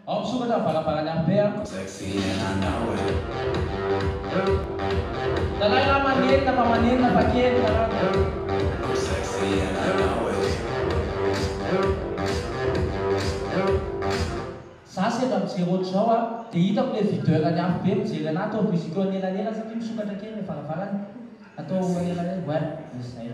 Ao misokatra ny varavaran'ny harpe a. Zalahy lahy manenina fa manenina fa kely ny rano. Za sendra mijery otrzao a de hitako le videur ny harpe mijery anah atao musique eo anelanelany satria misokatra kely le varavarany atao anelanelany ouais misy zay.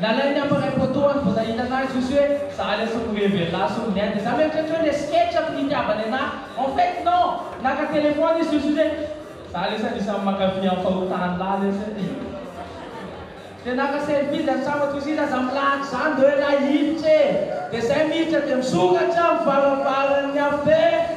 Nalainy aho mpanao photo any vao nahita anah izy ozy hoe za lesy no heverina ahy sy ominy ahy de za mieritreritra hoe le sketch ato nitiavany anah en fait non! Naka téléphone izy ozy hoe za lesy anisan'ny mankafy an'i fahotany lahy lesy e! de naka selfie izy antsambako izy iza aza milahatra zany de hoe la hiditra e! de zay miditra de misokatra amin'ny varavaran'ny afin!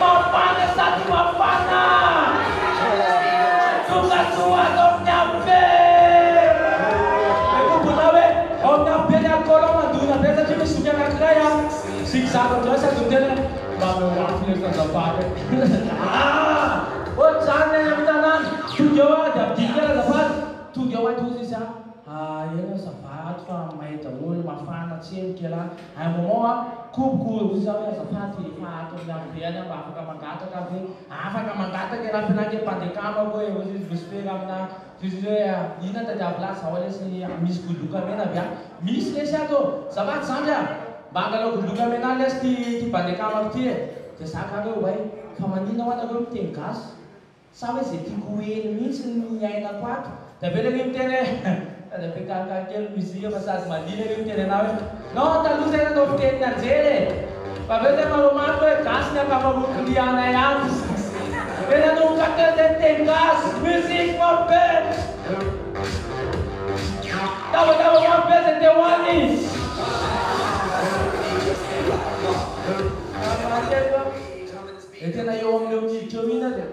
Mafana sady mafana! Tonga soa ato amin'ny AP! Dia koa bola hoe ao amin'ny AP ny alcool ao mandona be satria misy zoky anankiray an! Zig zag ohatr'izany sady ny tenany mba miovaova ilay zazavavy an! Ohatr'izany ny any amin'ny tanàna! Tonga eo an! Dia ampidiriko ilay azafady! Tonga eo an! Tohizo izy an! Aia ianao ça va ato fa may daholo, mafana, tsemboka ialahy. À un moment a koboko hoy za hoe azafady efa ato amin'ny avo be any aho mba afaka mangataka aho ve? Afaka mangataka ialahy f'elah ange mpandeka amako e! hoy izy mivosim-pera aminà toy izay hoe inona tadiavo lahy zaho lesy misy goloka mena ve ato? Misy lesy ato ô! Zafady zandry a! mba angalao goloka menà lesy ty mpandeka amako ty e! dia za gaga hoe oay fa maninona hoa nareo miteny gasy? Sa hoe izay tiako ho heno mihitsy no hiainako ato? Dia avy eo ilay hoe miteny hoe Fa dia be karakara kely ny mozika fa sady mandihy ilay hoe miteny anao hoe Non taloha izay nanao fiteny nianjera e! Fa avy eo dia manao mafy hoe Gasy ny ankamaroan'ny lianay ato! Dia nanomboka teo dia niteny gasy! Musique ma belle! Tabataba mafy be izay te ho any! Ary mahatelo an! Dia tena eo amin'io miditra eo iny ary an.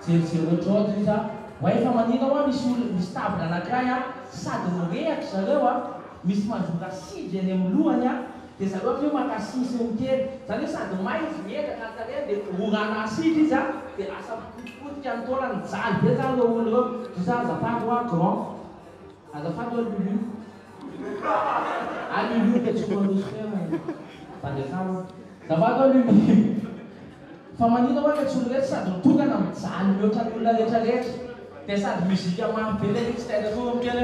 Jerijery hoe Jody ry za, oay fa manina hoa misy olona, misy table anakiray an, sady mirehaka zareo an, misy manjora sigy eny amin'ny lohany an, dia zareo avy eo maka sisy miteny, zany hoe sady may izy miezaka ny hatarehany dia orana asidy izy an, dia asa mikotipotika ny taolany, mijaly be zany ireo olona ireo, ry za azafady hoa grand, azafady hoa lulu. Any i Luka tsy ho mandroso tena ny fanjakana. Zavako aloha ny fa manina oe letsy olona letsy sady mitokana mijaly mihoatra ny olona rehetra rehetra dia sady musique mafy be le mix dia aza atoro kely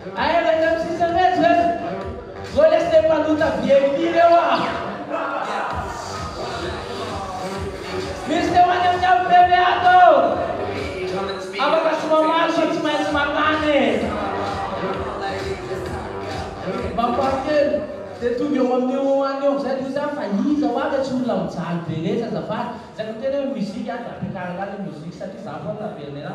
hoe aia le teo tsisy reto reto zao lesy le mpanota vip reo ah. Misy teo any amin'ny ampeme ato ao afaka tsy mamaly fa tsy maintsy mankany e! Mba fahatelo dia tonga eo amin'io ho any eo amin'izay toy izany fa iza ho avy tsy olona mijaly be letsy azafady, zay miteny hoe musique a dia ampiakarina any ny musique satria za foana naverina ena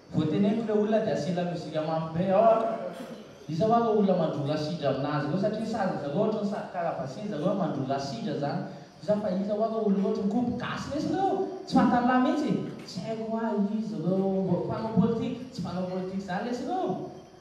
Vao teneniko le olona dia asela mozika mafy be ao an! Iza hoa reo olona mandroa rasidra aminazy reo satria sazy zareo ohatriny sady karavasia zareo hoe mandroa rasidra zany iza fa iza hoa reo olona ohatriny kobo gasy lesy reo tsy fantanlah mitsy tsy haiko hoa iza reo mbo mpanao politika tsy mpanao politika zany lesy reo